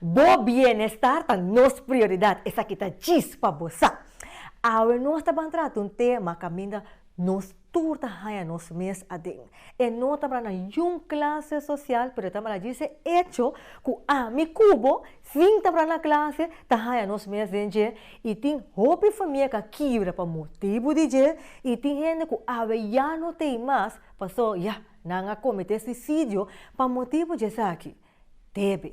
Bo bienestar ta nos prioridad, esaki ta djis pa bo sa. Awe nos ta ban trata un tema caminda nos tur ta haña nos mes aden. E no ta para na yu-un clase social pero e ta para djis e hecho cu ami cu bo, sin ta para na clase, ta haña nos mes den dje y tin hopi famia ca kibra pa motibu di dje y tin hende cu awe ya no t'ei mas pasobra ya nan a comete suicidio pa motibu dje esaki. Debe.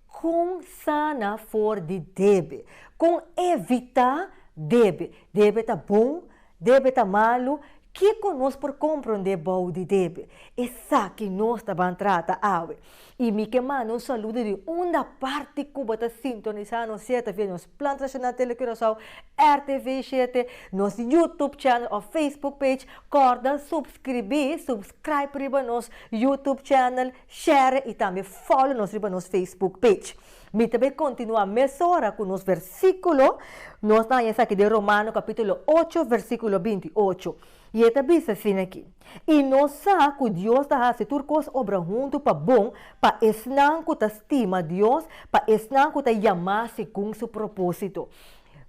Kon sana for di debe. Kon evitá debe. Debe ta bon, debe ta malu, kiko nos por komprondé bou di debe? Esaki nos ta ban trata awe. I mi ke manda un saludo di unda parti Cuba ta sintonisá nos siete via nos Plan Tradishonal Tele Curaçao, RTV siete, nos YouTube channel òf Facebook page. Kòrda supskribí, subscribe, riba nos YouTube channel. Share y tambe follow nos riba nos Facebook page. Mi ta bay continua mesora cu nos versiculo, nos ta haña esaki den Romano capitulo ocho versiculo binti y ocho. Y e ta bisa asina aki, Y no sa cu Dios ta haci tur cos obra huntu pa bon pa esnan cu ta stima Dios, pa esnan cu ta yamá segun su propósito.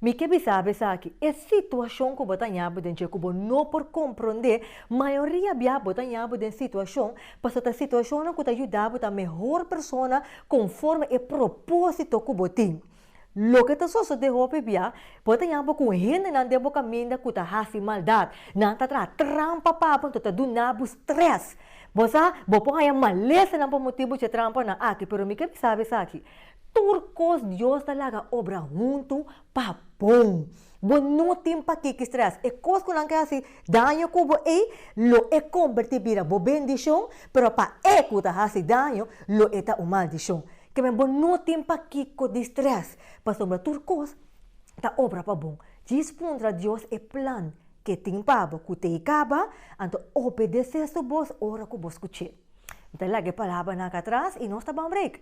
Mi ke bisa bo esaki, e situashon ku bo ta ñabu den dje ku bo no por komprondé, mayoria bia bo ta ñabu den situashon pasobra ta situashonnan ku ta yuda bo ta mehor persona konforme e propósito ku bo tin. Loke ta sosodé hopi bia, bo ta ñabu ku hendenan den bo kaminda ku ta hasi maldat. Nan ta traha trampa pa bo, anto ta duna bo strès. Bo sa, bo por haña malesanan pa motibu dje trampanan aki, pero mi ke bisa bo esaki, Tur kos Dios ta laga obra huntu pa bon. Bo no tin pakiki strès. E kos ku nan ke hasi daño ku bo ei, lo e kombertí bira bo bendishon, pero pa e ku ta hasi daño, lo e ta un maldishon. Keme bo no tin pakiko di strès, pasobra tur kos ta obra pa bon. Djis puntra Dios e plan ke tin pa bo ku t'ei kaba, anto obedesé su bos ora ku bo skuch'é. Mi ta laga e palabranan akatras i nos ta ban break.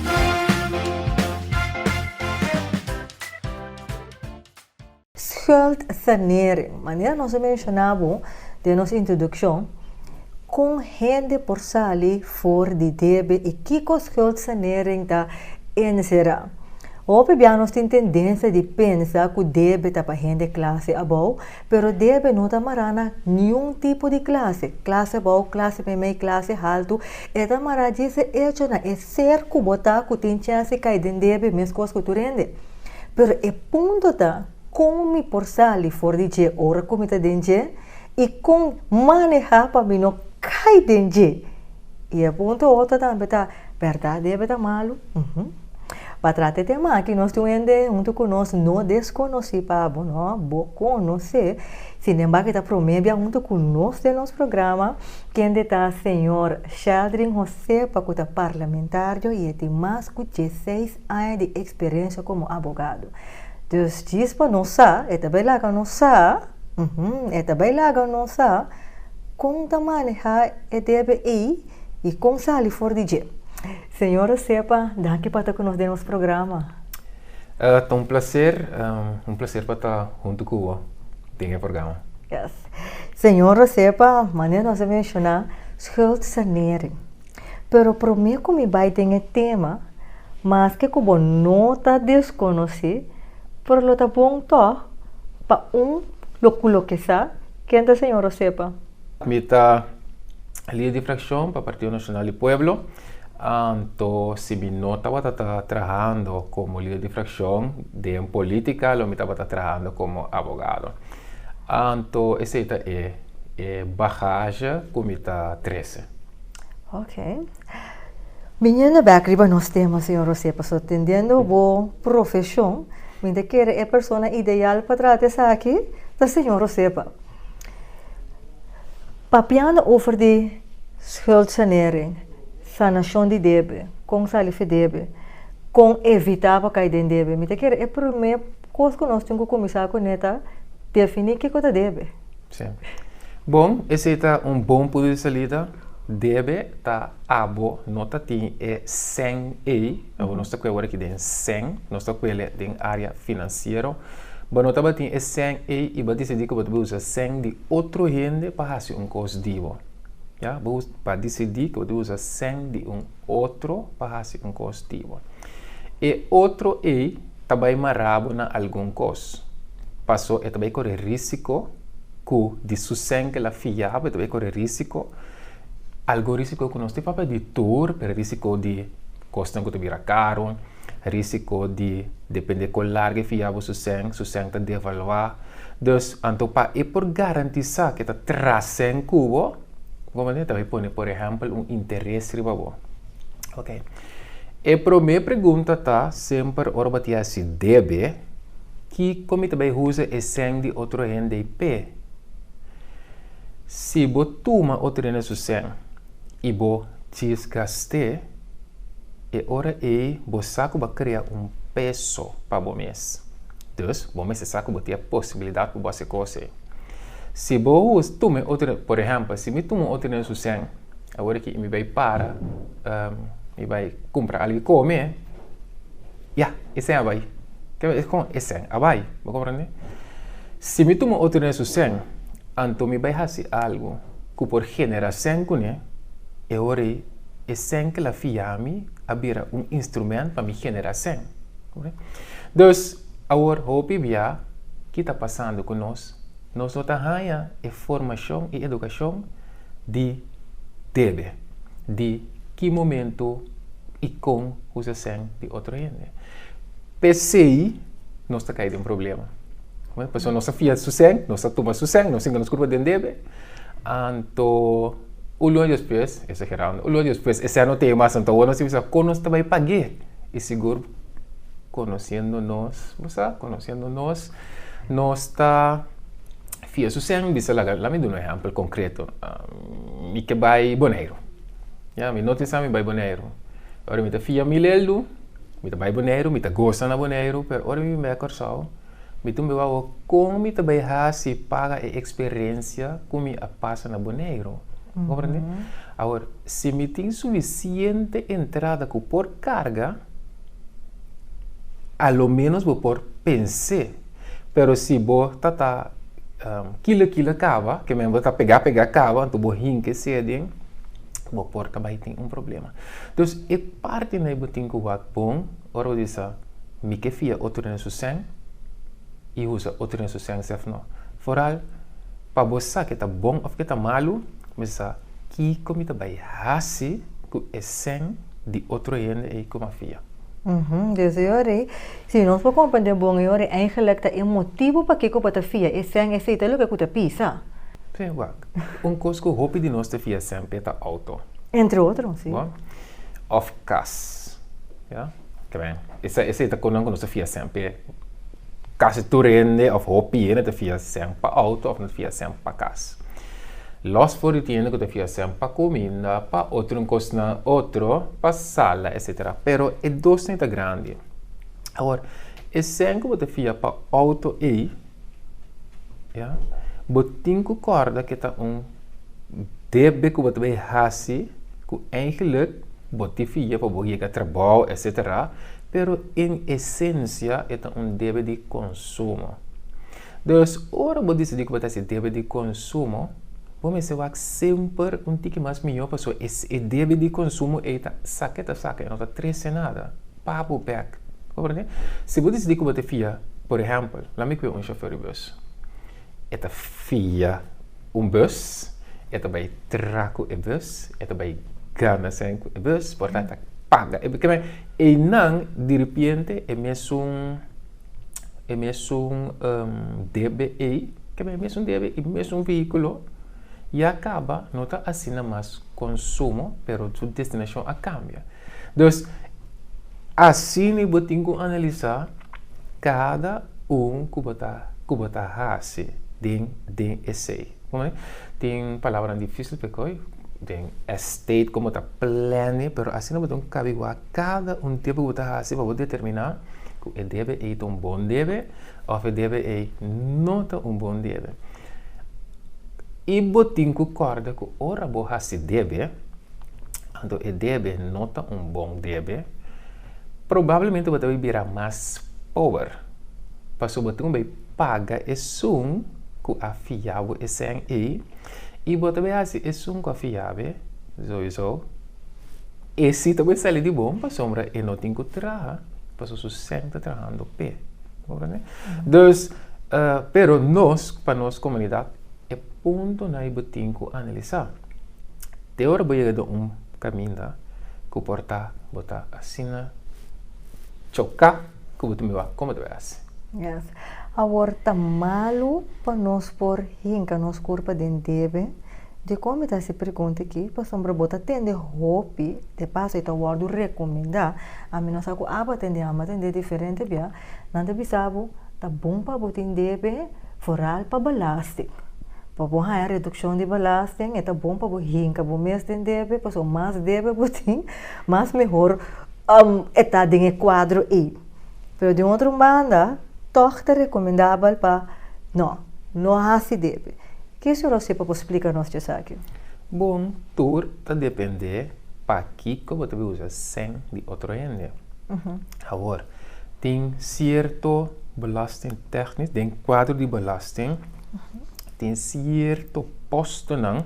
Skuldsanering. Manera nos a menshoná bo den nos introdukshon, kon hende por sali for di debe i kiko skuldsanering ta enserá? Hopi bia nos tin tendensia di pensa ku debe ta pa hende klase abou, pero debe no ta mará na niun tipo di klase, klase abou, klase meimei, klase haltu, e ta mará dje se echo na e Ser ku bo ta ku tin chance kai den debe meskos ku tur hende. Pero e punto ta kon mi por sali for di dje ora ku mi ta den dje i kon manehá pa mi no kai den dje. I e punto otro tambe ta, Bèrdat debe ta malu? Uhum. Pa trata e tema aki nos tin un hende huntu ku nos no deskonosí pa bo, no bo konos'é. Sin embárgo e ta promé bia huntu ku nos den nos programa. Kende ta Señor Sheldrin José pa cu ta parlamentario y e tin mas cu dieseis aña di experiencia como abogado. Dus djis pa nos sa, e ta bay laga nos sa, uhum, e ta bay laga nos sa con ta maneha e debe ey y con sali for di dje. Señor José pa, danki pa ta cu nos den nos programa. Ta un placer, un placer pa ta hunto cu bo den e programa. Yes. Señor José pa manera nos a menciona schuldsanering. Pero prome cu mi bay den e tema, maske cu bo no ta desconoci, pero lo ta bon toch pa un lo clokesa ken ta Señor José pa. Mi ta lider di fraccion pa Partido Nacional di Pueblo. Anto, si mi no tabata ta trahando como lider di fraccion den politica, lo mi tabata trahando como abogado. Anto, esey ta e e bagaje cu mi ta trece. Ok. Biniendo bek riba nos tema, señor Jose, pasobra tendiendo bo profesion, mi ta kere e persona ideal pa trata esaki ta señor Jose pa. Papiando over di schuldsanering, sanacion di debe, con sali fen debe, con evita pa cay den debe, mi ta kere e prome cos cu nos tin cu cuminsa cu ne ta defini kico ta debe. Si. Bon, esey ta un bon punto di salida. Debe ta abo, no ta tin e cen ey, abo nos ta cu awor aki den cen, nos ta cu ele den area financiero, bo no tabatin e cen ey y bo a decidi cu bo ta bay usa cen di. otro hende pa hasi un kos di bo. Ya, bo pa disidí ku bo ta usa sèn di un otro pa hasi un kos di bo. E otro ei ta bai mará bo na algun kos, pasó e ta bai kore rísiko ku di su sèn kel a fiá bo, e ta bai kore rísiko, algun rísiko ku nos tin papia di tur, pero rísiko di. kosnan ku ta bira karu, risiko di dependé kon largu e fia bo su sèn, su sèn ta devaluá. Dus, anto pa e por garantisá ku e ta tras sèn ku bo, bo mester ta bai pone, por ehèmpel, un interes riba bo. Ok. E promé pregunta ta semper ora bo ta hasi debe, Kiko mi ta bai usa e sèn di otro hende ei p'e? Si bo tuma otro hende su sèn. I bo ciska st'é, e ora ei bo sa ku bo krea un peso pa bo mes. Dus, bo mester sa ku bo tin e posibilidat pa bo hasi e kos ei. Si bo tuma e otro, por ehèmpel, si mi tuma otro den su sèn, awor aki mi bai para, mi bai kumpra algu di kome. Ya, esèn a bai. Ke lo ta kòm esèn a bai? Bo komprende? Si mi tuma otro den su sèn, anto mi bai hasi algu ku por generá sèn kuné, e ora ei e sèn kel a fia mi a bira un instrumènt pa mi generá sèn. Dus, awor hopi bia, ki ta pasando ku nos? Nos no ta haña e formashon i edukashon. di debe, di ki momento i kon ku se sen di otro hende. P'esei nos ta kai den problema. Pasobra nos ta fia su sen, nos ta tuma su sen, nos sinti nos kurpa den debe. Anto un luna despues, esagerando, un luna despues e sen no tei mas, anto awor nos ta bisa kon nos ta bai pag'é. I sigur konosiendo nos, bo sa, konosiendo nos, nos ta. Fia su sèn, bisa, Laga, la mi duna un ehèmpel konkretu. Mi ke bai Boneiru. Ya, mi no tin sa mi bai Boneiru. Ora mi ta fia mil eldu, mi ta bai Boneiru, mi ta gosa na Boneiru, pero ora mi bin bai a Kòrsou, mi tin por wawó kon mi ta bai hasi paga e eksperensia ku mi a pasa na Boneiru. Bo komprende? Awor, si mi tin sufisiente entrada ku por karga, a lo ménos bo por pens'é. Pero si bo ta ta um, kila kila kaba, ke men bo ta pegá pegá kaba, anto bo hinka e seden, bo por ta bai tin un problema. Dus e parti na e bo tin ku wak bon ora bo bisa, Mi ke fia otro den su sèn i usa otro den su sèn sèf nò. Foral, pa bo sa ke ta bon òf ke ta malu, mester sa kiko mi ta bai hasi ku e sèn di otro hende ei ku mi a fia. Desde e orei, si nos por komprende bon e orei, eigenlijk ta e motibu pakiko bo ta fia e sèn esei ta loke ku ta pisa. Trea wak, un kos ku hopi di nos ta fia semper ta outo. Entre otro, si. Bon? Òf kas, ya, tren. Esei ta kosnan ku nos ta fia semper. Casi tur hende of hopi hende ta fia cen pa auto of nan ta fia cen pa cas. Los for di tin hende cu ta fia cen pa cuminda, pa otro cosnan otro, pa sala etc. Pero e dos tin ta grandi. Awor, e cen cu bo ta fia pa auto ey, ya, bo tin cu corda cu e ta un. Debe ku bo ta bai hasi ku eigenlik bo tin fia pa bo yega trabou etcetera pero en esensia e ta un debe di konsumo. Dus ora bo disidí ku bo ta hasi debe di konsumo bo mester wak semper un tiki mas mihó pasobra e debe di konsumo ei ta sa ke ta sa e no ta trese nada pa bo bek. Comprende? Si bo disidí ku bo ta fia, por ehèmpel, laimi ku yo un shofèr di bus. E ta fia un bus, e ta bai tra ku e bus, e ta bai gana sèn ku e bus, por tanto e ta paga e bus. Kiba? Einan diripiente e mesun, e mesun debe ei, kiba? E mesun debe, e mesun vehíkulo. y a caba no ta asina mas consumo pero su destinacion a cambia dus asina bo tin cu analisa cada un cu bo ta cu bo ta haci den den esey como tin palabranan dificil pa coy den estate como ta plane pero asina bo ta un cabigua cada un debe bo ta haci pa bo determina cu e debe ey ta un bon debe of e debe ey no ta un bon debe. I bo tin ku kòrda ku ora bo hasi debe, anto e debe no ta un bon debe, probablemente bo ta bai bira mas pober, pasobra bo ta kome bai paga esun ku a fia bo esei ei, i bo ta bai hasi esun ku a fia bo. E si ta bo e sali di bon pasobra e no tin ku traha paso su sèn ta trahando p'e. Comprende? Dus, pero nos, pa nos komunidat, e puntonan ei bo tin ku analisá. Te ora bo yega den un kaminda ku por ta bo ta asina choká Ku bo tambe wak kome ta bay hasi. Yes. Awor ta malu pa nos por hinka nos kurpa den debe di kon mi ta hasi e pregunta aki pasobra bo ta tende hopi, de paso e ta wordu rekomendá. Ami no sa ku aba tende ama tende diferente bia. Nan ta bisa bo ta bon pa bo tin debe foral pa balasting. Pa bo haña redukshon di balasting e ta bon pa bo hinka bo mes den debe pasobra mas debe bo tin. Mas mehor e ta den e kuadro ei. Pero den otro banda tòg ta rekomendabel pa nò, no hasi debe. Ke su Rosé pa por splika nos tje esaki? Bon, tur ta dependé pakiko bo ta bin usa sèn di otro hende. Awor, tin sierto belòsting tèknico den kuadro di belòsting. tin sierto postonan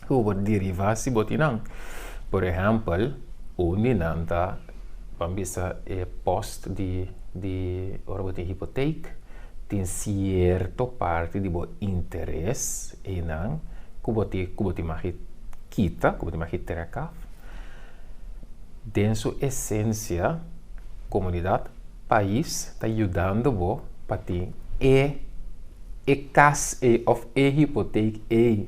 ku por derivá si bo tin nan. Por ehèmpel, un di nan ta, ban bisa e post di, di ora bo tin hipotek, tin sierto parti di bo interes einan ku bo tin, ku bo tin magi kita, ku bo tin magi trèk af. Den su esensia, komunidat. Pais ta yudando bo pa tin e e cas ey of e hypotheek ey.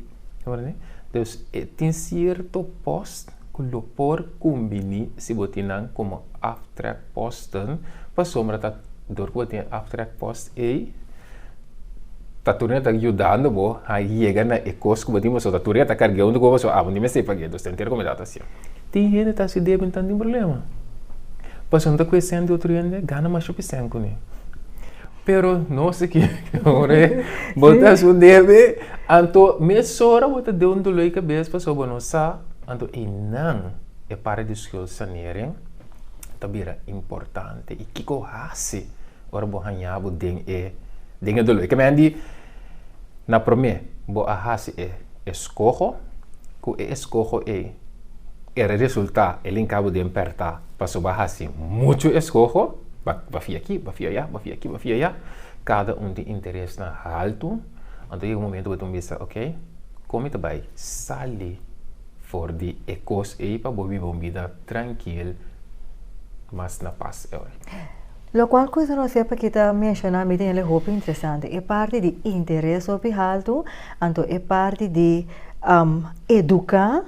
Dus e tin cierto post cu lo por cumbini si bo tin nan como aftrekposten pasobra ta dor cu bo tin e aftrekpost ey. Ta tur neta yudando bo a yega na e kos ku bo tin pasobra ta tur neta karg'é un di goba so abo ni mester pag'é dos ta enter kome ta hasié. Tin hende ta hasi debe nta tin problema pasobra no ta kue sèn di otro hende gana masha pi sèn kuné pero nos a ke ora bo ta hasi un debe anto mesora bo ta den un doló di kabes pasobra bo no sa anto i nan e parti di skuld sanering ta bira importante i kiko hasi. ora bo haña bo den e den e doló. E kmen di, Na promé, bo a hasi e eskoho, ku e eskoho ei e a resultá e linká bo den pèrtá, pasobra bo a hasi muchu eskoho, bo a fia aki, bo a fia ayá, bo a fia aki, bo a fia ayá, kada un tin interesnan haltu, anto a yega un momentu bo ta bisa, ok, kon mi ta bai sali for di e kos ei pa bo biba un bida trankil, mas na pas? Locual cusa nos e pa kita menciona mi tin el e hopi interesante e parti di interes hopi haltu anto e parti di um, educa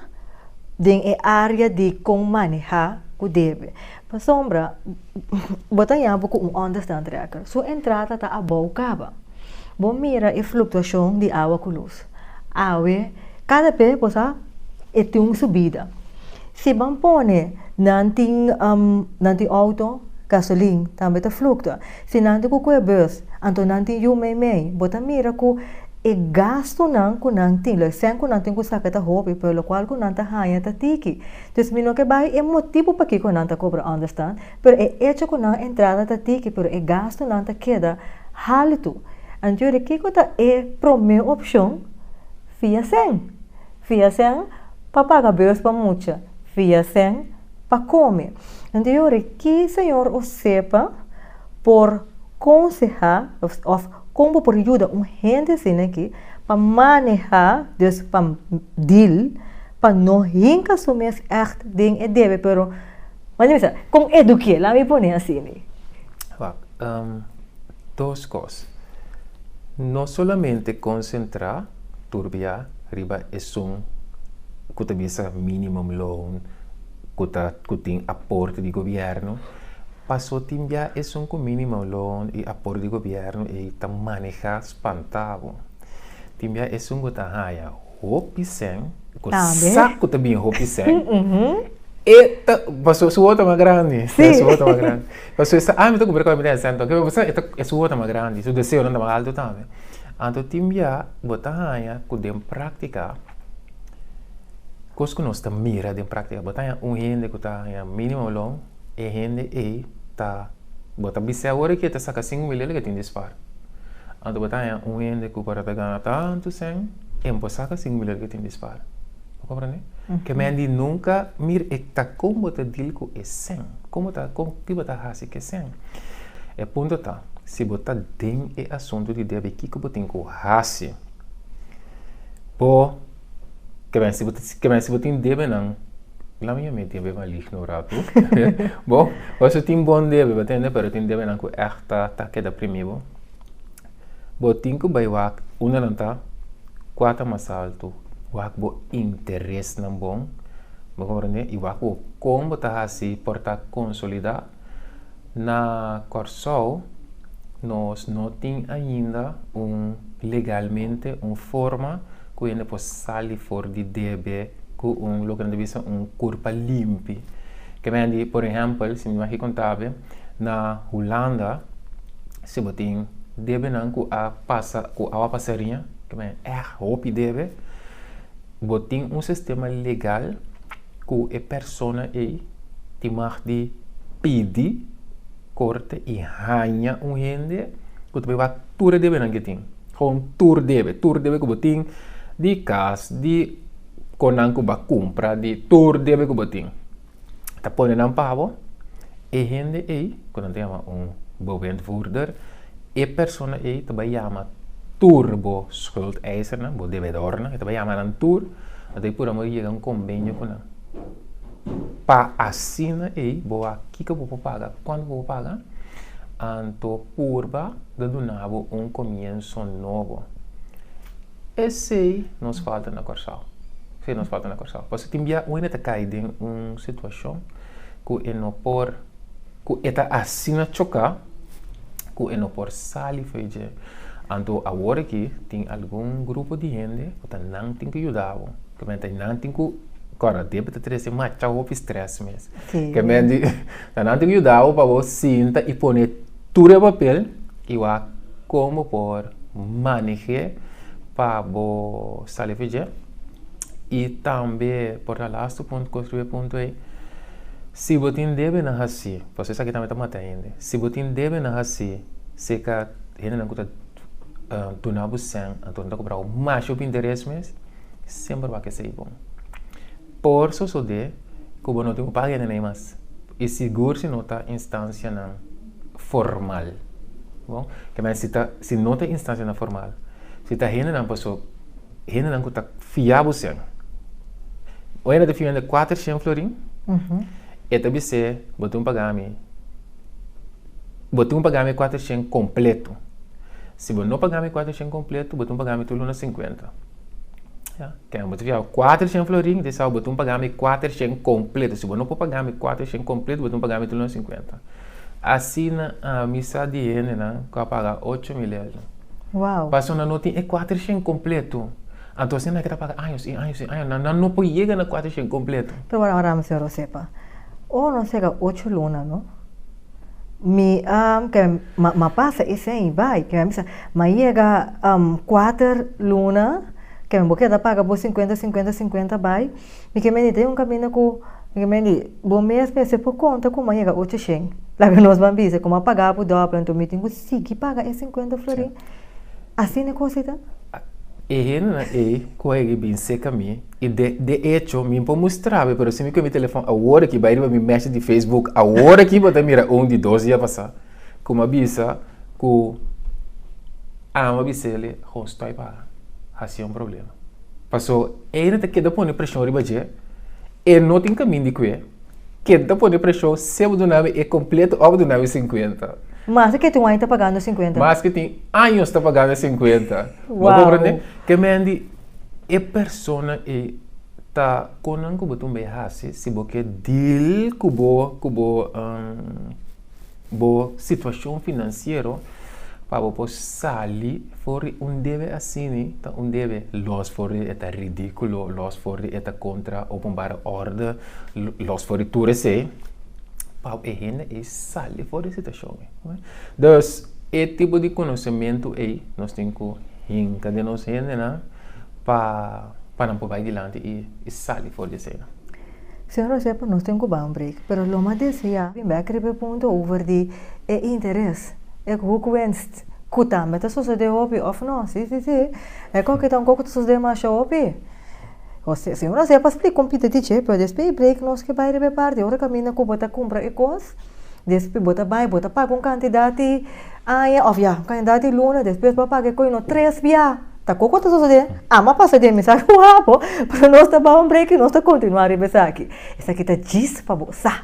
den e area di con maneha cu debe pasobra bo ta yabu cu un understand tracker su entrada ta abao caba bo mira e fluctuacion di awa cu luz. Awe, kada p'e cosa e tin su bida. Si ban pone nan tin nan tin outo gasolin tambe ta fluktua. Si nan tin ku kue bus anto nan tin yu meimei. Bo ta mira ku e gastunan ku nan tin, lo esent ku nan tin ku saka ta hopi pero lokual ku nan ta haña ta tiki. Entonces mi no ke bai e motibu pakiko nan ta kobra understand. Pero e echo cu nan entrada ta tiki pero e gastunan ta keda haltu. Anto ora kico ta e prome opcion? Fia sen. Fia sen pa paga beus pa mucha. Fia sen pa come. Anto e ora ki señor o sepa por conseha of con bo por yuda un hende asina aki pa maneha, dus pa deal, pa no hinca su mes echt den e debe pero. Manda mi sa, kon edukié? Laga mi pone así mi. Wak, dos kos. No solamente konsentrá turbiá riba esun ku ta bisa minimum loan, ku ta, ku tin aporte di gobièrnu, pasó tin biá esun ku minimum loan i aporte di gobièrnu ei ta manehá spantá bo. Tin biá esun ku ta haya. Hopi sèn, ku sak ku ta bin hopi sèn, e ta pasobra su wòta mas grandi. Si. Su wòta mas grandi. Pasobra e sa, ah mi ta kumpra kòf, mi ta hasi sèn tok. Pero bo sa, e ta, e su wòta mas grandi, su deseonan ta mas altu tambe. Anto tin bia bo ta haña ku den práktika, kos ku nos ta mira den práktika, bo ta haña un hende ku ta haña mínimo lon, e hende ei ta, bo ta bis'é awor ki e ta saka sinku mil dóla, ke tin dispar. Anto bo ta haña un hende ku por ta gana tantu sèn. Tempu a saka sin muler ke tin dispar. Bo komprende? Ke men di nunka mir e ta kon bo ta dil ku e sen. Kon bo ta, kon, ki bo ta hasi ke sen. E punto ta, si bo ta den e asuntu di debe kiko bo tin ku hasi. Bo, ta bes, si bo, ta bes si bo tin debenan, la mi yam'e debe maligno un ratu. Bo, bo su tin bon debe, bo tende, pero tin debenan ku ègt ta keda primi bo. Bo tin ku bai wak unda nan ta, kua ta mas altu, wak bo interesnan bon, bo komprende, i wak bo kon bo ta hasi por ta konsolidá. Na Kòrsou nos no tin ainda un legalmente un forma ku hende por sali for di debe ku un loke nan ta bisa un kurpa limpi. Kemen di, por ehèmpel, si mi bai aki kontabel. Na Hulanda si bo tin debenan ku a pasa ku awa pasa riña, ke men èg hopi debe, bo tin un sistema legal ku e persona ei tin mag di pidi korte i haña un hende ku ta pebá tur e debenan ke tin. Gewoon tur debe, tur debe ku bo tin di kas, di kon nan ku bo a kumpra, di tur debe ku bo tin. ta pone nan pabo, e hende ei ku nan ta yama un bewindvoerder, e persona ei ta bai yama tur bo schuldeisernan, bo debedornan, e ta bai yama nan tur, nan ta pura mos yega un kombenio ku nan, pa asina ei bo a kiko bo por paga, kuantu bo por paga, anto purba ta dunabo un komienso nobo. Esey nos falta na Kòrsou. Esey nos falta na Kòrsou. Pasobra tin bia un hende ta kai den un situashon ku e no por, ku e ta asina choká ku e no por sali fo'i dje. Anto awor aki tin algun grupo di hende ku ta nan tin ku yuda bo. Kèmente e nan tin ku, kòrda, a debe ta trese masha hopi strès mes. Kèmente ta nan tin ku yuda bo pa bo sinta i pone tur e papel y wak kon bo por manej'é pa bo sali afe dje y tambe por ta lastu punto construi e punto ey si bo tin debe na haci pasobra esaki tambe ta mata hende si bo tin debe na haci si e ka hendenan ku ta duna bo sèn anto nan ta compra bo masha pa interes mes semper wak esey bon. Por sosodé ku bo no tin ku paga hende na ei mas, i sigur si no ta instansianan formal. Bon, ke mai si ta, si no ta instansianan formal, si ta hendenan paso, hendenan ku ta fia bo sen. Un hende ta fia hende kuater shen florin, e ta bis'é, bo tin ku paga mi, bo tin ku paga mi kuater shen kompletu. Si bo no paga mi kuater shen kompletu, bo tin ku paga mi tur luna sinkuenta. Ten bo ta fiaba 400 florin, di sao botum pagami 400 completo. Si bo no por pagami 400 completo, botum pagami 350. Asina ami sa di hendenan cu a paga 8 mil euro. Wow! Paso nan no tin e 400 completo. Anto asina nan ke ta paga años i años i años. Nan, nan no por yega na 400 completo. Pero ora, ora, mesora bo sepa. Ora no a sega ocho luna, no? Mi a kere ma pasa esei i bai, kere mi sa, ma yega kuater luna, kere bo keda paga bo sinkuenta sinkuenta sinkuenta bai, mi ke mende ta un kaminda ku, mi ke mende bo mes mester por konta ku bo a yega ocho shen, laga nos ban bisa kuma a paga bo dòpel anto mi tin ku sigui paga e sinkuenta florin, asina e kos ei ta? E hendenan ei ku a yega i bin seka mi. I de de echo mi por mustrab'e pero si mi coge mi telefon awor aki bai riba mi message di Facebook awor aki bo ta mira un di dos dia pasa cu m'a bisa cu amo a bisele ho stoi paga haci un problema paso e no ta keda pone presion riba dje e no tin camin di cue keda pone presion sea bo duna mi e completo o bo duna mi cincuenta Maske ke tin un aña ta pagando e cincuenta. maske tin años ta pagando e cincuenta bo a comprende? Wow. Kemen di. E persona ei ta konan ku bo ta un bay hasi si bo ke dil ku bo ku bo bo situashon finansiero pa bo por sali for di un debe asini ta un debe los for di e ta ridikulo los for di e ta kontra openbare òrder los for di tur esei pa e hende ei sali for di e situashon ei. Dus, e tipo di konosementu ei nos tin ku hinka den nos hendenan pa nan por bai dilanti i sali for di esei. Señor Josepa, nos tin ku bai un break, pero lo mas deseá bin bai a kere punto over di e interes, e hoekwenst ku tambe ta sosodé hopi òf no? Sí, sí, sí. E kòke ta un kòke ku ta sosodé masha hopi. José, Señor, a sepa spli kon Pita dice, pero despues e break nos ke bai riba e bardi. Ora kaminda ku bo ta kumpra e kos, despues bo ta bai, bo ta paga un kantidad di aña of ya un kantidad di luna, despues bo a paga e kos y nos tres bia. Ta kiko ku ta sosode? Amo a pasa den mi, sa ku a bo, pero nos ta bai un break y nos ta kontinua riba esaki. Esaki ta djis pa bo sa.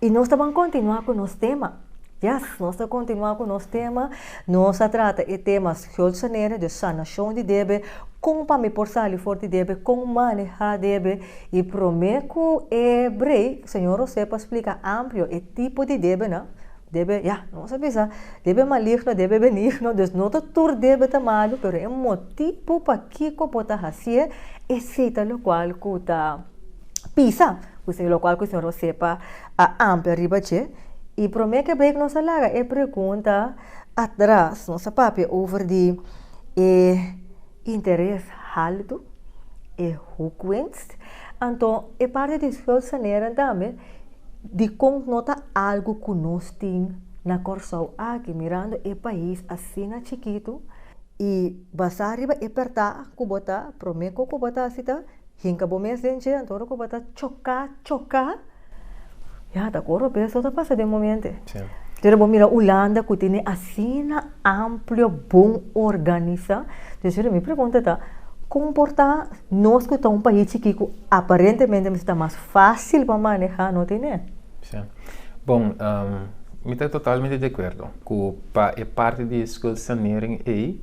Y nos ta ban continua cu nos tema. Yes, nos ta continua cu nos tema. Nos a trata e tema Schuldsanering, dus sanacion di debe, con pa mi por sali for di debe, con maneha debe. Y prome cu e brei, Señor Jose por splica amplio e tipo di debenan. Debe, ya, nos a bisa, debe maligno, debe benigno. Dus no ta tur debe ta malu, pero e motibu pakico bo ta hacié, esey ta locual cu ta. pisa, locual cu señor Osepa a amplia riba dje. Y prome ke bay cu nos a laga e pregunta atras, nos a papia over di e interes haltu, e hoekwinst. Anto e parti di schuldsanering tambe, dikon no ta algo cu nos tin na Corsou aki, mirando e pais asina chikitu y basa riba e pertah cu bo ta, prome co cu bo ta haci ta. Hinka bo mes den djent ora ku bo ta choka choka ya ta kor ope eso ta pasa den momente pero bo mira Hulanda ku tin asina amplio bon organisa entonces ora mi pregunta ta kon por ta nos ku ta un pais chiki ku aparentemente mester ta mas facil pa maneha no tin e. Bon mi ta totalmente de acuerdo ku pa e parti di skuldsanering ei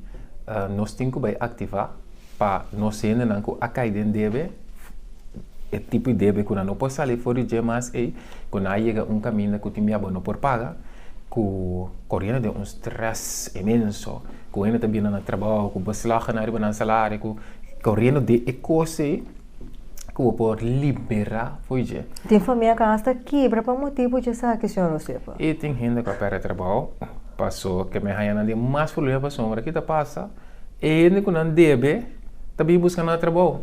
nos tin ku bai activa. Pa nos hendenan ku a kai den debe, e tipo di debe ku nan no por sali for di dje mas ei ku nan a yega un kaminda ku tin bia bo no por paga, ku koriendo den un strès inmenso, ku hende ta bira na nan trabou ku beslagnan ariba nan salario, ku koriendo den e kos ei ku bo por liberá for di dje. Tin famia ku a hasta kibra pa motibu di esaki, señor Josefa. I tin hende ku a pèrdè trabou, paso ke mi a haña nan den mas problema pasobra ke ta pasa? E hende ku nan debe ta bin buska nan trabou.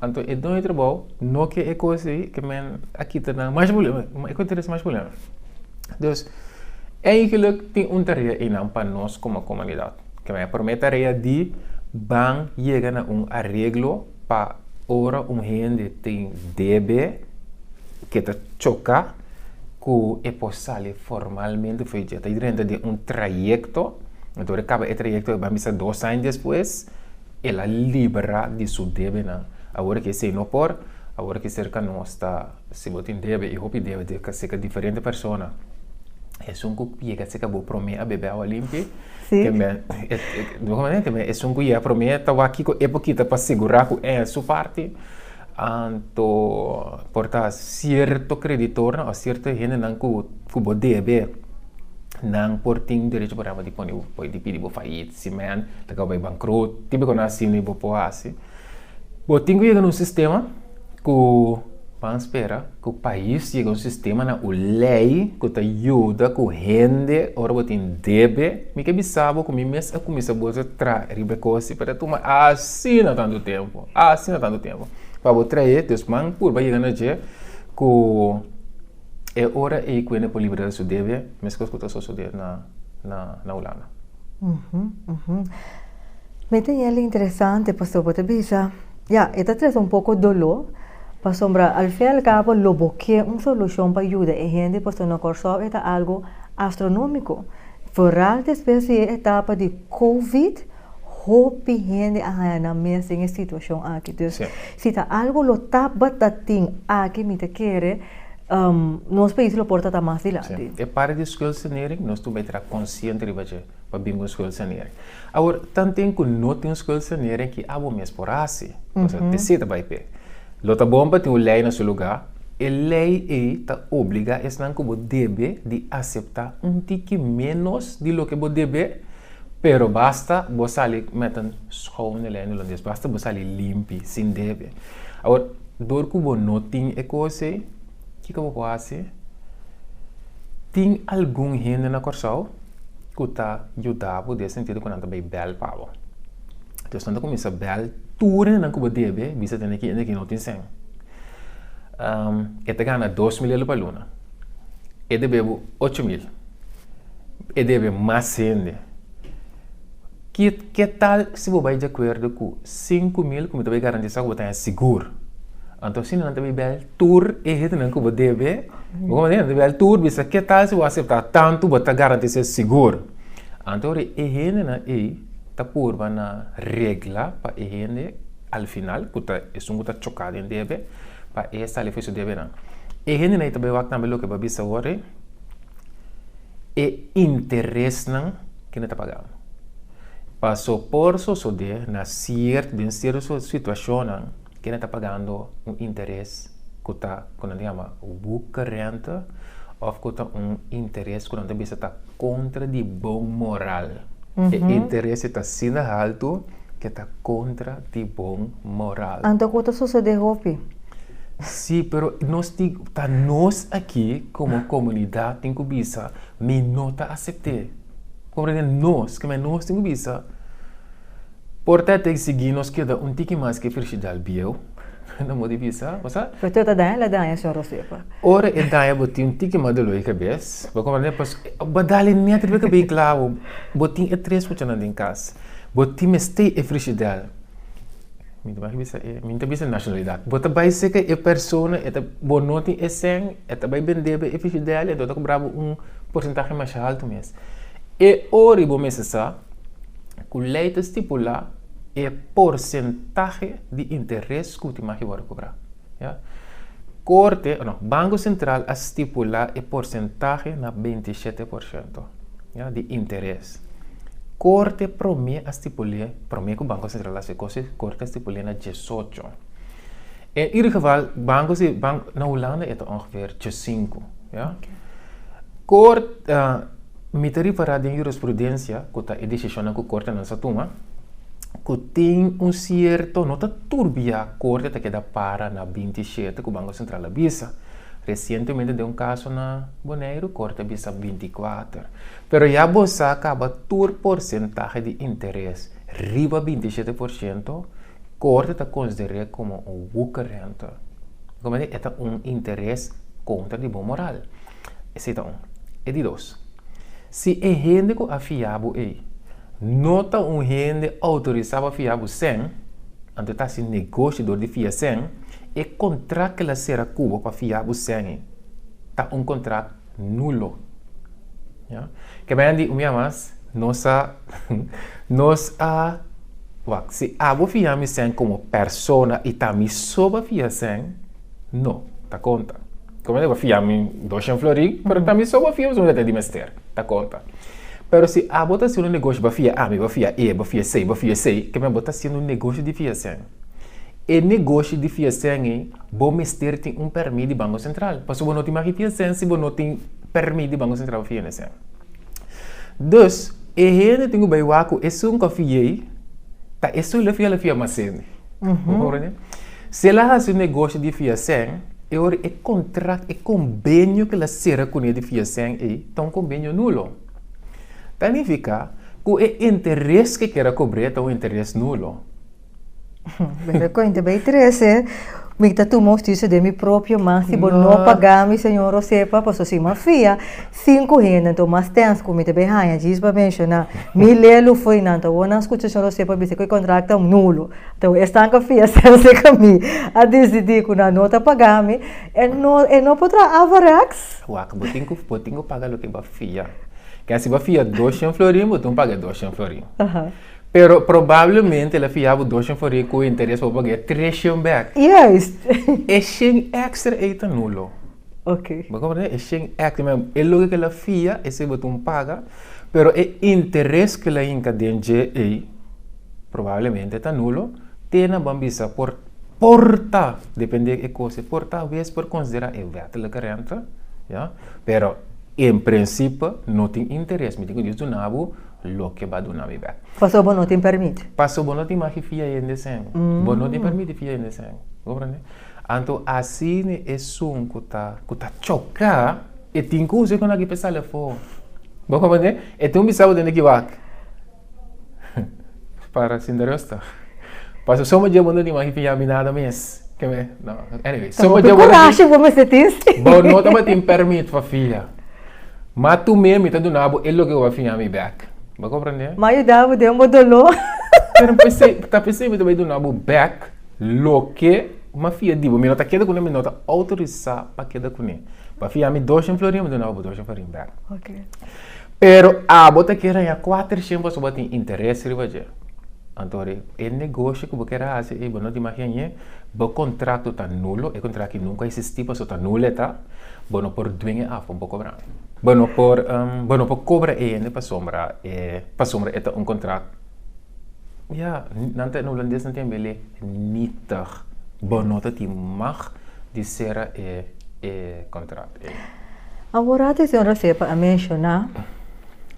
Anto e doño di trabou no ke e kos ei ke men a kita nan mas purblema, e ku ta trese mas purblema. Dus, eigenlik tin un tarea einan pa nos komo komunidat, ke men promé tarea di ban yega na un areglo. Pa ora un hende tin debe ke ta choka ku e por sali formalmente for dje, ta drenta den un trayekto, anto ora e kaba e trayekto e ban bisa dos aña despues el a libra di su debenan. Awor ke esei no por, awor ke ser ka nos ta, si bo tin debe i hopi debe ta ser ka diferente persona, esun ku yega ser ka bo prome a bebe awa limpi. Sí. Te me, e, e, doha manera te me, esun ku ya promé ta wa kiko e pokita pa sigurá ku e su parti, anto por ta sierto kreditornan o sierto hendenan ku ku bo debe, nan por tin derecho por hèmber di pone bo, por di pidi bo fayit, si men ta kaba bay bankrot, tin di kona asina i bo por hasi. Bo tin ku yega na un sistema. Ku ban spera ku pais yega un sistema na un lei ku ta yuda ku hende ora bo tin debe? Mi ke bisa bo ku mi mes a kuminsa bolsa tra riba e kosi pa ta tuma asina tantu tempu, asina tantu tempu pa bo trae. Dus man purba yega na dje ku e ora ei ku hende por liberal su debe, meskos ku ta sosode na Hulanda. Uhu, uhu. Mi tin el interesante, pastor, bo ta bisa, ya, e ta trese un poko doló, pasobra al fin y al cabo lo bo ke un solucion pa yuda e hende, pasobra na Kòrsou e ta algo astronómiko. Vooral despues di e etapa di covid, hopi hende a haña nan mes den e situacion aki. Dus. Si ta algu lo tabata tin aki mi ta kere nos pais lo por ta ta mas dilanti. E parti di scuelsanering nos tin bay tra consciente riba dje pa bin cu un scuelsanering. Awor tanten cu no tin un scuelsanering ki abo mes por haci cosa te seta bay pe. Lo ta bon pa tin un ley na su lugar, e ley ey ta obliga esnan cu bo debe di acepta un tiki menos di loke bo debe. Pero basta bo sali met un schoon e lei holandés, basta bo sali limpi, sin debe. Awor, dor ku bo no tin e kos ei, kiko bo por hasi? Tin algun hende na Kòrsou ku ta yuda bo den e sentido ku nan ta bai bèl pa bo. Entonces, nan ta kuminsá bèl tur hendenan ku bo debe bisa tende ki hende ku no tin sèn. E ta gana dos mil lelu pa luna, e debe bo ocho mil. E debe mas hende. Ke tal si bo bai di akuerdo ku sinku mil ku mi ta bai garantisá ku bo ta haña sigur? Anto asina nan ta bai bel tur e hendenan ku bo debe. Bo konprende? Nan ta bai bel tur bisa, ke tal si bo a aseptá tantu bo ta garantisá sigur? Anto ora e hendenan ei ta purba na regla pa e hende al final, ku ta esun ku ta choká den debe, pa e sali fuis su debenan. E hendenan ei ta bai wak tambe loke bo a bisa awor ei. e interesnan ku no ta paga amo. Paso por sosode na siert den sierto situashonnan ku no ta pagando un interes ku ta ku nan ta yama wuka renta of ku ta un interes ku nan ta bisa ta kontra di bon moral. E interesnan ta asina haltu. ke ta kontra di bon moral. Anto ku ta sosede hopi. Sí, pero nos tin, ta nos aki komo komunidat tin ku bisa mi no ta asept'é. Comprende? Nos, ke men nos tin ku bisa por ta tin sigi nos keda un tiki mas ke Frigidaire Bieu. No mos di bisa, bo sa? Pero teo ta daña, el a daña señor Josefa. Ora e daña bo tin un tiki mas dolor di kabes, bo komprende? Pues bo dal e net riba e kabei klawo. Bo tin e tres kuchanan den kas, bo tin mester e frishidel. Mi ta bai bisa e, mi no ta bisa e nashonalidat. Bo ta bai seka e persona, e ta, bo no tin e sèn, e ta bai bendé bo e frishidel i anto e ta kubra bo un porsentahe masha haltu mes. E ora i bo mester sa ku lei ta stipulá. E porsentahe di interes ku ultima hora a kobrá. Korte, no, Banko Sentral a stipulá e porsentahe na beinti shete por shento di interes. Korte promé a stipul'é, promé ku Banko Sentral a hasi e kos ei, Korte a stipul'é na diesocho. En ieder geval, Banko se, na Hulanda e ta ongeveer diesinku. Kort. Mi ta ripará den jurisprudensia ku ta e desishonnan ku kortenan sa tuma, ku tin un sierto, no ta tur bia korte ta keda para na binti shete ku Banko Sentral a bisa. Resientemente den un kaso na Boneiru, korte a bisa binti kuater. Pero ya bo sa kaba tur porsentahe di interes riba binti shete por shento, korte ta konsider'é komo un wukerrente. Kòmke? E ta un interes kontra di bon moral. Esei ta un. E di dos, si e hende ku a fia bo ei no ta un hende outorisá pa fia bo sèn, anto ta hasi negoshi dor di fia sèn, e kontrakt k'el a sera ku bo pa fia bo sèn ei ta un kontrakt nulo. Ke bai di un bia mas, nos a nos a wak, si abo fia mi sèn komo persona i ta mi so bo a fia sèn, No, ta konta. Kome lo bo fia mi doshen flori, pero tambi so bo fia mi sumita di mester, ta konta. Pero si abo ta haciendo un negoshi, bo fia ami, bo fia e, bo fia esey, bo fia esey, keme bo ta haciendo un negoshi di fia sen. E negoshi di fia sen ei, bo mester tin un permi di Banko Sentral, pasobra bo no tin maki fia sen si bo no tin permi di Banko Sentral pa fia ne sen. Dus, e hende tin ku bai wak ku esun kofia ei, ta esun lo fia, lo fia mas hende. Bo comprende? Si el a hasi un negoshi di fiasen, e ora e kontrakt, e kombenio ku el a sera kuné di fiasen ei ta un kombenio nulo. Ta nifiká ku e interes ku e keda kobr'é ta un interes nulo. Bira kuenta, bai trese, mi ta tuma hustisia den mi propio man si bo no pagá mi, señor Hosepa, pasobra si mi a fia sinku hendenan o mas tèns ku mi ta bai haña djis pa menshoná, mi lelu fo'i nan ta wòrdu nan skucha señor Hosepa bisa ku e kontrakt ta nulo. Tau esnan ka fia selse ka mi a disidí ku nan no ta pagá mi, e no e no por traha Averacks? Wak, bo tin ku bo tin ku paga loke bo a fia. Ke si bo a fia doshen florin, bo tin ku paga e doshen florin. Pero probablemente el a fia bo doshen florin ku e interes pa bo pag'é treshen bèk. Juist! E shen èkstra ei ta nulo. Okay. Bo comprende? E shen acting men, e loke ke la fia, esei bo ta un paga, pero e interes ke la hinka den dje ei, probablemente ta nulo, te nan ban bisa por, por ta, depende e kos, por ta wes por konsidera e wettelijke rente, ya, pero en prensipe no tin interes, mi tin ku Dios duna bo loke ba duna mi bek. Paso bo no tin permit. Paso bo no tin maki fia hende esei, bo no tin permiti fia hende esei, bo comprende? Anto asina e sun ku ta ku ta choka e tin kuse ku na kipa e sali afó. Bo komprende? E tin un bisabo dent'e ki wak. Para sinta rosta. Paso so mujer bo no tin wak fiá mi nada mes. Keme no anyway. So mujer bo no tin. Hopi kurashi bo mester tin si. Bo no tabatin permit pa fiá. Ma tu mes mi ta duna bo e loke ku bo a fiá mi bek. Bo komprende? M'a yuda bo den bo doló. Pero mi ta pens'e mi ta bai duna bo bek. Loke mafia dibo mi no ta keda kuné mi no ta outorisá pa keda kuné pa fia mi doshen florin mi dunaba bo doshen florin bèk pero abo ta keda haña kuatershen pasobra bo a tin interes riba dje anto e negoshi ku bo keda hasi ei bo no dimagi añe bo kontrakto ta nulo e kontrakto aki nunka a esistí pasobra ta nulo e ta bo no por duen e afo bo kobra mi bo no por bo no por kobra e hende pasobra e ta un kontrakto. Ya, nan ta, na hulandes nan tin bele nietig. Bo no ta tin mag di sera e e contrato, e. Awor atención Rasepa a menciona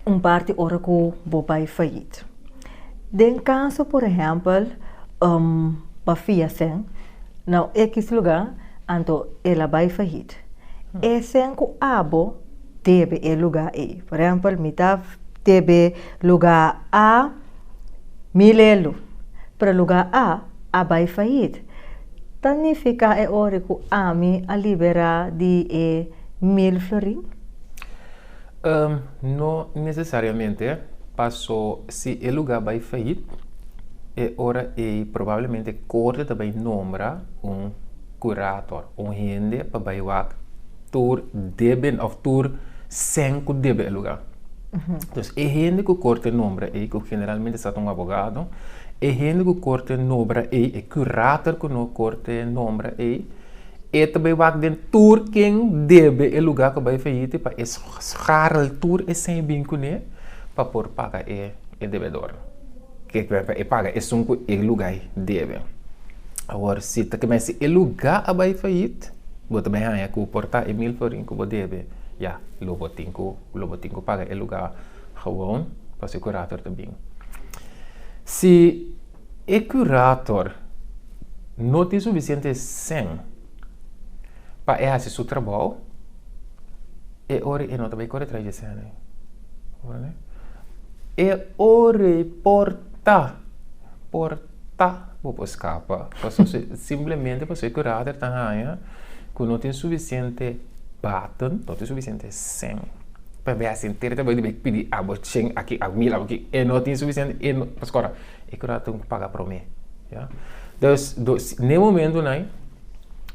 un parti ora cu bo bay fayit. Den caso por ehempel pa Fiasen na equis lugar anto el a bay fayit. Esen cu abo debe e lugar ey. Por ehempel mi ta debe. Luga A, Mi lelu, pero luga A a bai fayit. Ta nifica e ori cu ami a libera di e mil florin? Um, no necesariamente, paso si e luga bai fayit, e ora ey probablemente Corte ta bai nombra un. Curator, un hende pa bai wak tur debe na of tur sèn ku debe e lugá. Entonces, e hende ku Korte nombra ei, ku generalmente sa ta un abogado, e hende ku Korte nobra ei, e curator ku no Korte nombra ei, e ta bai wak den tur ken debe e lugá ku bai fayiti pa e sgarl tur esei bin kuné pa por paga e debedor. Ke ku e paga esun ku e lugá debe. Awor si ta keme si e lugá a bai fayit, bo ta bai haña ku por ta e mil florin ku bo debe, ya lo bo tin ku lo bo tin ku paga e lugá gewoon pa su kurator ta bin. Si e kurator no tin sufisiente sen. pa e hasi su trabou, e ora e no ta bay kore trae Yesenia. E ora por ta, por ta bo por scapa, paso si, simplemente paso e curader ta haya cu no tin suficiente baten, no tin suficiente seng, pa bay hasi enter ta bay di bay pidi abo cien aki, abo mil, abo aki, e no tin suficiente, e no, pasobra e curader ta paga prome. Ya. Entonces, do, n'e momento nai,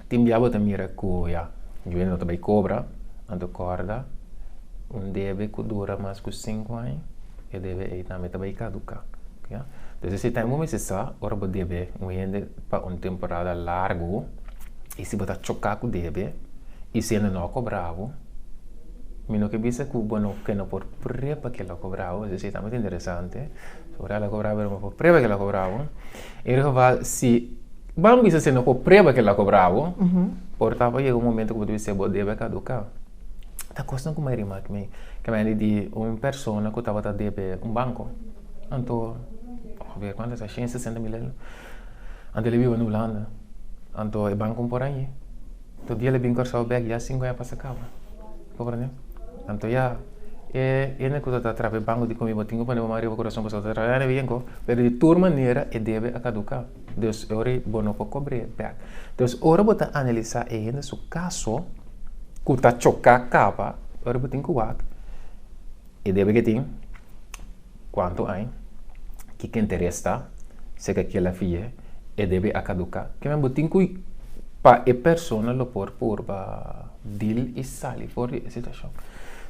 tin bia bo ta mira ku, ya, jubilae no ta bai kobra, anto kòrda, un debe ku dura mas ku sinku aña, e debe ei tambe ta bai kaduká. Ya. Entonces, esei tambe bo mester sa, ora bo debe un hende pa un temporada largu, i si bo ta choká ku debe, i si hende no a kobra bo, mi no ke bisa ku bo no, ke no por pré pa kila kobra bo, esei tambe ta interesante. Ora el a cobra pero no por prueba cu el a cobra bo. En e geval si bo bisa si no por prueba cu el a cobra bo, por tapa yega un momento cu bo ta bisa bo debe a caduca. Ta cos nan cu mai rima cu mi. Caminandi di un persona cu tabata debe un banco. Anto, aver cuantu esa? Shen sesenta mil aña. Anto el a biba na Hulanda. Anto e banco no por añi. Anto dia el a bin Curaçao bek ya sinku aña pasa caba. Comprende? Anto ya e hende ku ta ta traba e banku di komiba tin ku pone bo man riba kurason pasobra ta trabaya na bienko, pero di tur manera e debe a kaduká. Dus e ora bo no por kobr'é bèk. Dus ora bo ta analisá e hende su kaso ku ta choká kaba, ora bo tin ku wak, e debe ke tin. Cuanto ai? Kiko interes ta? Si ke kila fie e debe a caduca? Kimen bo tin cu pa e persona lo por purba dil y sali for di e situacion?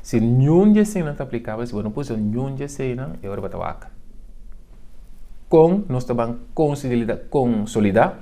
Si niun di eseynan ta aplicabel, si bo no puso niun di eseynan, e ora bo ta wak. Con nos ta ban consolida?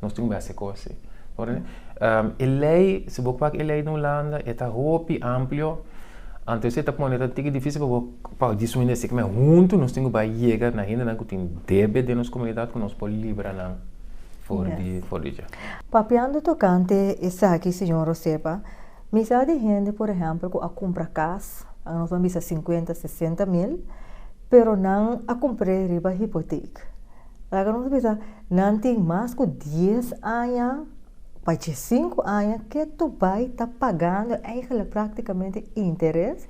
Nos tin un bes e kosi. E lei, si bo pak e lei den Hulanda, e ta hopi amplio, anto esei ta pone ta un tiki difisil pa bo pa di su hende a sikimen. Huntu nos tin ku bai yega na hendenan ku tin debe den nos komunidat ku nos por libra nan for di, for di dje. Papiando tokante esaki, señor Rosepa, mi sa di hende, por ehèmpel, ku a kumpra kas, nos ban bisa sinkuenta, sesenta mil, pero nan a kumpr'e riba hipotek. Laga nos bisa, nan tin mas ku dies aña, pa dje sinku aña, ke tu bai ta pagando eigenlijk praktikamente interes.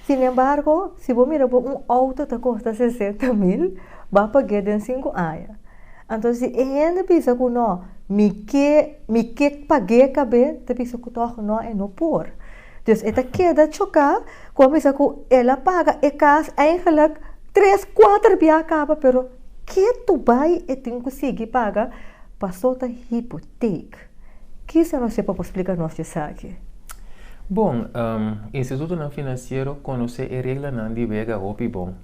Sin embargo, si bo mira bo un outo ta kosta sesenta mil, ba pag'é den sinku aña. Anto si e hende bisa ku nò, mi ke, mi ke pag'é kab'é, ta bisa ku tòg nò e no por. Dus e ta keda choká ku a bisa ku el a paga e kas eingelik tres, kuater bia a kaba pero ke tu bai e tin ku sigui paga pasó ta hipotek. Kisa nos ke pa bo splika nos di esaki? Bon, institutonan finansiero konosé e reglanan di wega hopi bon.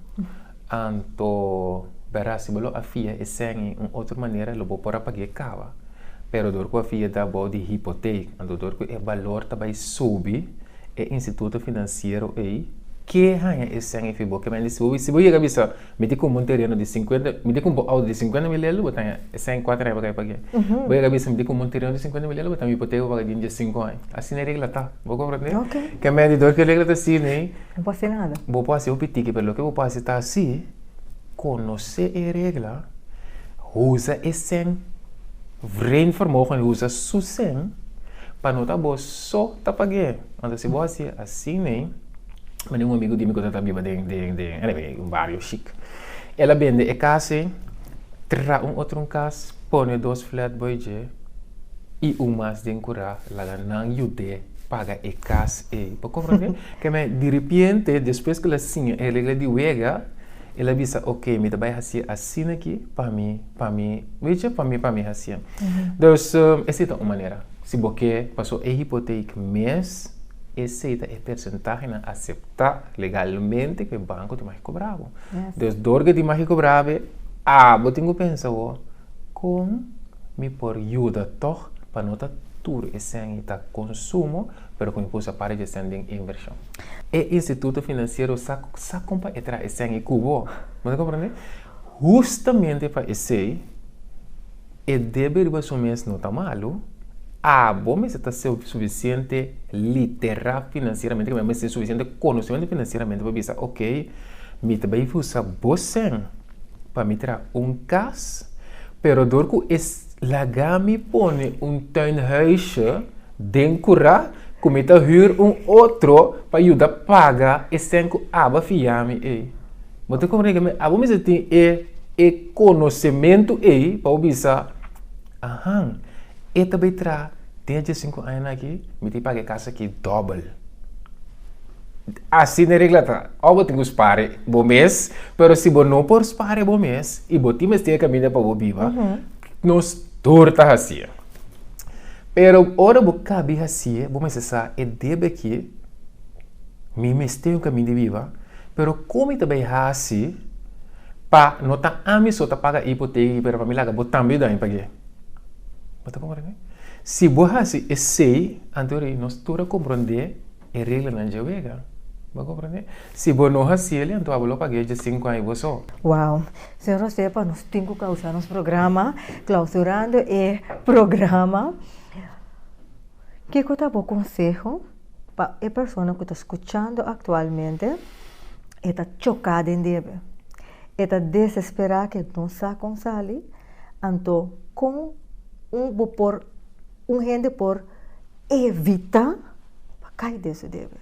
Anto, Bera, si bo lo a fia e sèngi un otro manera lo bo por a pag'é kaba. Pero dor ku a fia da bo di hipoteka, anto dor ku e balor ta bai subi, e instituto finansiero ei ke haña e sèngi fi bo. Kementi si bo si bo yega bisa, Mi tin kumpa un tereno di sinkuenta, mi tin kumpa un outo di sinkuenta mil elu, bo ta haña e sèngi kuater aña pa kai pag'é. Bo yega bisa, Mi tin kumpa un tereno di sinkuenta mil elu, bo ta haña un hipoteka pa paga dint'e sinku aña. Asina e regla ta, bo komprendé? Kementi dor ku e regla ta siña ei, No por haci nada. Bo por haci bo pitiki pero loke bo por haci ta haci conoce e regla, uza e sen, vren vermogen y uza su sen pa no ta bo so ta pague manda si bo haci haci me manda un amigo di mi cu ta ta biba den den anyway un bario chic el a bende e cas ey, tra un otro un cas pone dos flatboy dje. I un mas den ku ta laga nan yud'é paga e kas ei. Bo komprendé? Keme di ripiente, despues ku el a siña e regla di wega, el a bisa, Oke, mi ta bai hasié asina aki pa mi, pa mi, witje, pa mi, pa mi hasié. Dus, esei ta un manera. Si bo ke pasó e hipotek mes, esei ta e persentahenan aseptá legalmente ku e banko tin mag kobrá bo. Dus, dor ke tin mag kobrá bo e, a bo tin ku pensa bo. Kon mi por yuda tòg pa no ta tur esèn i ta konsumo, pero ku mi por usa parte di esèn den invershon? E instituto finansiero sa sa kon pa e traha esèn i ku bo. Bo ta komprende? Hustamente pa esei e debe riba su mes no ta malu, abo mester ta sufisiente literá finansieramente, ke mester mester sufisiente konosementu finansieramente pa bisa, Oke, mi ta bai usa bo 100. Pa mi tra un kas, pero dor ku e laga mi pone un tuinhuisje den kura ku mi ta hür un otro pa yuda paga e sèn ku aba fia mi ei. Bo ta kore ku mi abo mester tin e e konosementu ei pa bo bisa, Ahan, e ta bai tra den e diasinku añanan akí, mi tin paga e kas akí dòbel. Asina e regla ta, ò bo tin ku spare bo mes, pero si bo no por spare bo mes i bo tin mester kaminda pa bo biba, nos tur ta hasi'e. Pero ora bo ka bin hasi'e, bo mester sa e debe akí mi mester un kaminda biba, pero kon mi ta bai hasi pa no ta ami so ta paga e ipoteka aki pero pa mi laga bo tambe daño pag'é? Bo ta komprende? Si bo hasi esei, anto nos tur a komprondé. E reglanan dje wega. Bo komprende? Si bo no hasi el, anto abo lo pag'é dje sinku aña bo so. Wow. Señor a sepa nos tin ku kausa nos programa klausurando e programa. Kiko ta bo konseho pa e persona ku ta skuchando aktualmente e ta choká den debe, e ta desesperá ku e no sa kon sali, anto kon bo por un hende por. evita pa kai den su debe.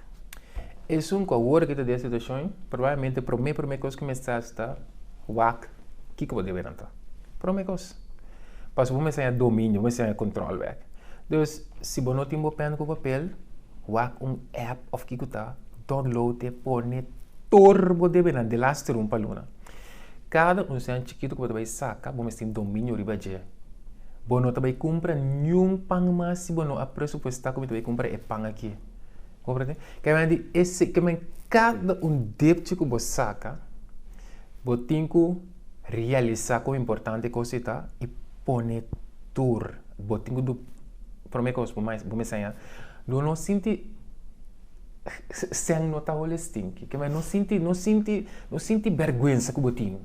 Esun ku awor ke ta den situashon, probablemente promé promé kos ku mester hasi ta wak kiko bo debe nan ta. Promé kos. Pasobra bo mester haña dominio, bo mester haña kontrol bek. Entonces, si bo no tin bo pèn ku papel, wak un app òf kiko ta, download e pone tur bo debenan, de las trun pa luna. Kada un seña chikitu ku bo ta bai saka, bo mes tin dominio riba dje. Bo no ta bai kumpra niun pan mas si bo no a presupuestá ku bo ta bai kumpra e pan akí. Comprende? Kebandi e se, kebend, kada un depchi ku bo saka, bo tin ku realisá kon importante e kos ei ta i pone tur. Bo tin ku du, promé kos, bo mes seña, do no sinti. Sèn no ta holi stinki. Ke men no sinti, no sinti, no sinti bèrgwensa ku bo tin.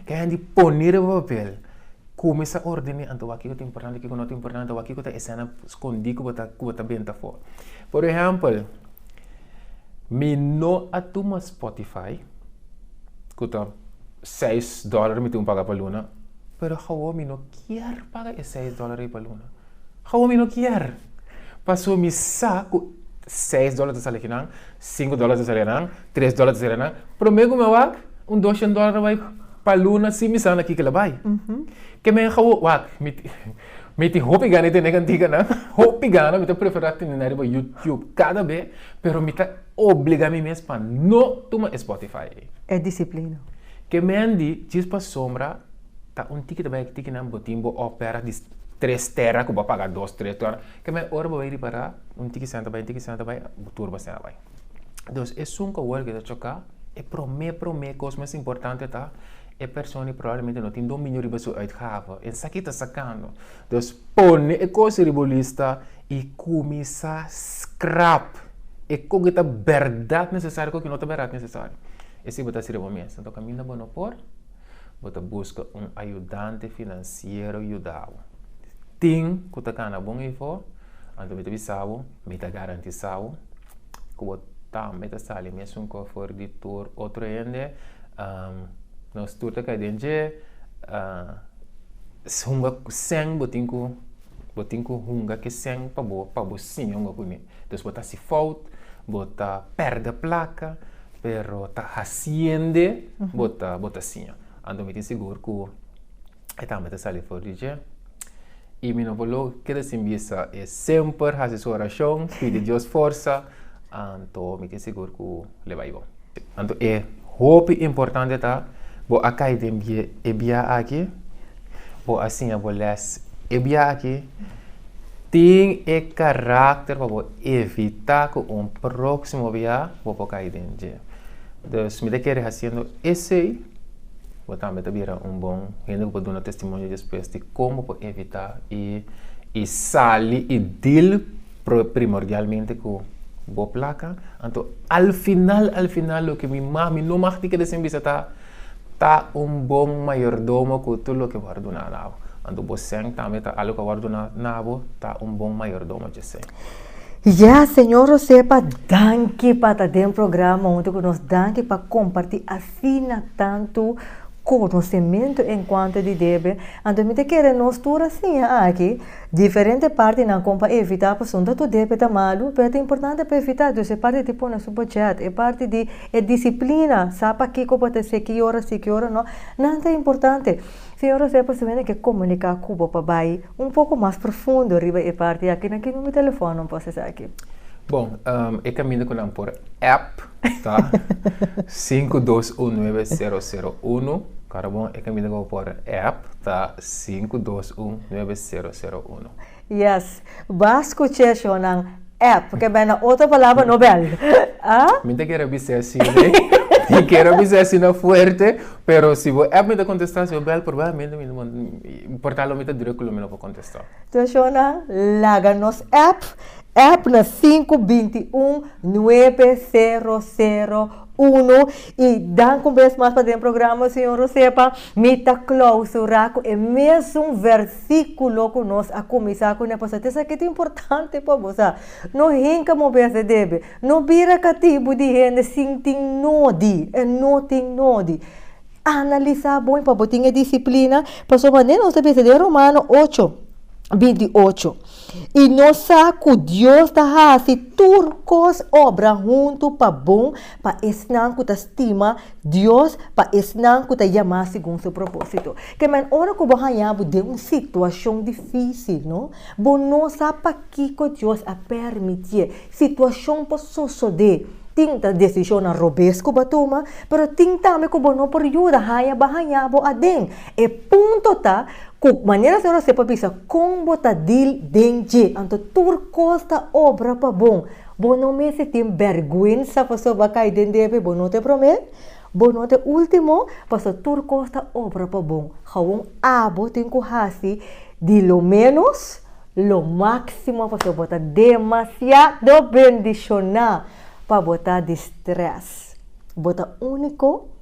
Ke hende pone riba papel komo e sa ordené anto wak kiko ta importante, kiko no ta importante, anto wak kiko ta esèna skondí ku bo ta ku bo ta benta afó. Por ehèmpel, mi no a tuma spotify, ku ta seis dòllar mi tin paga pa luna, pero awor mi no kier paga e seis dòllar ei pa luna. Kawa mi no kier? Paso mi sa ku seis dola ta sali aki nan, sinku dola ta sali anan, tres dola ta sali anan, prome ku mi a wak un doshen dola a bai pa luna sin mi sa na ki kila bai. Ke men kawa wak? Mi tin hopi gana di tene kantika nan, hopi gana, mi ta prefera tene nan riba YouTube kada be, pero mi ta obliga mi mes pa no tuma e Spotify ei. E disiplina. Ke men di djis pasobra. Ta un tiki ta bai e tikinan bo tin bo opera di tres tera ku bo a paga dos tres tera ke me ora bo bai ripara un tiki senta bai un tiki senta bai bo tur bo sena bai entonces esun ku awor ke ta choka e prome prome kos mas importante ta e persona i probablemente no tin dominio riba su uitgave en sa kita sakando entonces pone e kos riba bo lista i kuminsa skrap e kon ke ta bèrdat nesesario kon ke no ta bèrdat nesesario e si bo ta sirbi bo mes kaminda bo no por. Bo ta buska un ayudante finansiero yuda bo. Tin ku ta kana bon efo, anto mi ta bisa bo, mi ta garantisa bo ku bo tambe ta sali mesun ku afor di tur otro hende. Nos tur ta kai den dje hunga ku sèn, bo tin ku hunga ki sèn pa bo, pa bo siña hunga ku mi. Pues bo ta hasi fout, bo ta perde plaka, pero ta hasiende bo ta bo ta siña. Anto mi tin sigur ku e tambe ta sali for di dje. I mi no por lo keda sin bisa e semper hasi su orashon, pidi Dios forsa, anto mi tin sigur ku lo bai bon. Anto e hopi importante ta bo a kai den e bia aki, bo a siña bo lès. E bia aki tin e karakter pa bo evitá ku un próksimo bia bo por kai den dje. Dus mi ta kere hasiendo esei bo tambe ta bira un bon hende ku por duna testimonio despues di kon bo por evitá i sali i dil. Primordialmente ku bo plaka. Anto al final al final loke mi mag, mi no mag tika di sin bisa ta, ta un bon mayordomo ku tur loke bo a ordoná na bo. Anto bosèn tambe ta algu ku a ordoná na bo, ta un bon mayordomo djosé. Ya, Señor Rosepa, danki pa ta den programa huntu ku nos. Danki pa kompartí asina tantu konosementu en kuantu di debe. Anto mi ta kere nos tur a siña aki. Diferente partinan kon pa evitá pasobra tur debe ta malu, pero ta importante pa evitá, dus e parti di pone su bòdjèt, e parti di e disiplina, sa pa kiko bo ta se, ki ora si, ki ora no, nan ta importante. Señor José pasobra nan ke komuniká ku bo pa bai un poko mas profundo riba e parti aki, na ki nume telefòn nan por hasi esaki? Bon, e kaminda ku nan por app ta sinku dos un nuebe sero sero uno, kòrda bon? E kaminda ku bo por app ta. Sinku dos un nuebe sero sero uno. Yes bas ku cheshonan app ke bai na otro palabra no bel ah. Mi ta kere bisa e si rei mi kere bisa e si na fuerte pero si bo app mi ta kontesta si bo bel probablemente mi no importa lo mi ta druk lo mi no por kontesta. Cheshonan laga nos app app na sinku binti un nuebe sero sero uno y danku mes mas pa den programa señor Rosepa. Mi ta klausurá ku e mesun vèrsikulo ku nos a kuminsá ku ne pasá. Te sa ke ta importante pa bo? Sa, No hinka mobé ase debe. No bira katibu di hende sin tin nodi. E no tin nodi. Analisá bon pa bo tin e disiplina. Pasobra manera nos ta bisa den Romano ocho binti ocho, i nos sa ku Dios ta hasi tur kos obra huntu pa bon Pa esnan ku ta stima Dios, pa esnan ku ta yamá segun su propósito. Ke men ora ku bo haña bo den un situashon difísil, no? Bo no sa pakiko Dios a pèrmitié situashon por sosodé. Tin ta desishonnan robes ku bo a tuma, pero tin tambe ku bo no por yuda haña bo a haña bo aden. E punto ta ku manera Señor a sepa bisa kon bo ta dil den dje, anto tur kos ta obra pa bon. Bo no mester tin bèrgwensa pasobra bo a kai den debe, bo no ta e promé, bo no ta e último, pasobra tur kos ta obra pa bon. Kaun abo tin ku hasi di lo ménos lo máksimo pasobra bo ta demasiado bendishoná pa bo ta di strès. Bo ta úniko.